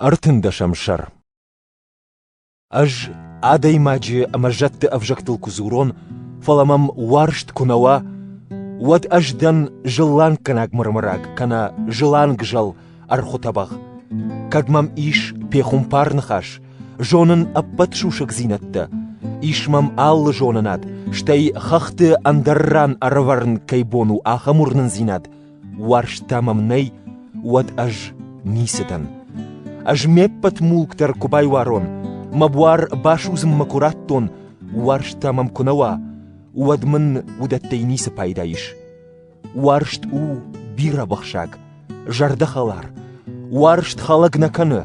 Ӕртындӕсӕм сӕр Ӕз адӕймаджы ӕмӕ зӕдты ӕвзӕгтыл куы дзурон, фӕлӕ мӕм уарзт куы нӕ уа, уӕд ӕз дӕн зыланггӕнаг мырмыраг кӕнӕ зылангзӕл ӕрхуытӕбӕгъ. Кӕд мӕм ис пехуымпар ныхас, зонын ӕппӕт сусӕгдзинӕдтӕ, ис мӕм алы зонынад, стӕй хӕхты ӕндӕр ран ӕрӕвӕрын кӕй бон у ахӕм уырнындзинад, Уарзтӕ мӕм нӕй, уӕд ӕз ницы дӕн. Ӕз ме ппӕт мулк дӕр куы байуарон, мӕ буар басудзынмӕ куы раттон, уарзтӕ мӕм куы нӕ уа, уӕд мын уыдӕттӕй ницы пайда ис. Уарзт у бирӕбӕхсӕг, зӕрдӕхӕлар, уарзт хӕлӕг нӕ кӕны,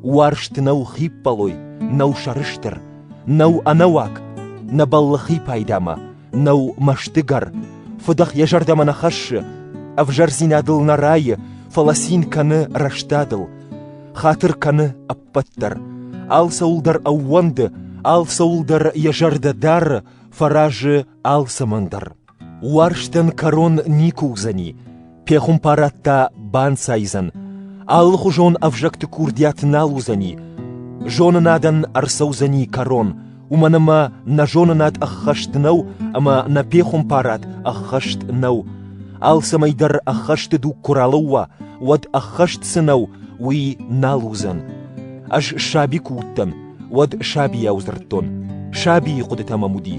уарзт нӕу хиппӕлой, нӕу сӕрыстыр, нӕу ӕнӕуаг, нӕ бӕллы хи пайдамӕ, нӕу мӕстыгӕр, фыдӕх йӕ зӕрдӕмӕ нӕ хӕссы, ӕвзӕрдзинадыл нӕ райы, фӕлӕ цин кӕны рӕстадыл, хатыр кӕны ӕппӕт дӕр, алцӕуыл дӕр ӕууӕнды, алцӕуыл дӕр йӕ зӕрдӕ дары, фӕразы алцӕмӕн дӕр. Уарзтӕн кӕрон никуы уыдзӕни, Пехуымпарӕдтӕ банцайдзӕн, алыхуызон ӕвзӕгты курдиат нал уыдзӕни, зонынадӕн ӕрцӕудзӕни кӕрон, уымӕн ӕмӕ нӕ зонынад ӕххӕст нӕу ӕмӕ нӕ пехуымпарад ӕххӕст нӕу. Алцӕмӕй дӕр ӕххӕсты дуг куы ралӕууа, уӕд ӕххӕст цы нӕу, уый нал уыдзӕн. Ӕз саби куы уыдтӕн, уӕд сабийау дзырдтон. Сабийы хъуыдытӕ мӕм уыди.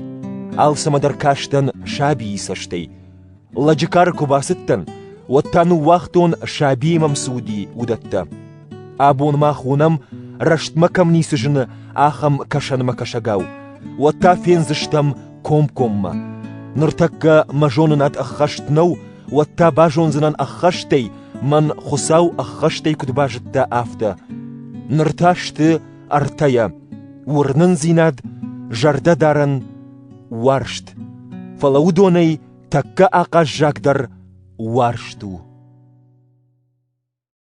Алцӕмӕ дӕр кастӕн сабийы цӕстӕй. Лӕджы кары куы бацыдтӕн, уӕд та ныууагътон, сабийы мӕм цы уыди, уыдӕттӕ. Абон мах уынӕм, рӕстмӕ кӕм ницы зыны, ахӕм кӕсӕнмӕкӕсӕгау. Уӕд та фендзыстӕм комкоммӕ. Ныртӕккӕ мӕ зонынад ӕххӕст нӕу, уӕд та базондзынӕн ӕххӕстӕй, мӕн Хуыцау ӕххӕстӕй куыд базыдта, афтӕ. Ныр та сты ӕртӕйӕ — уырнындзинад, зӕрдӕдарӕн, уарзт. Фӕлӕ уыдонӕй тӕккӕ ахъаззагдӕр уарзт у.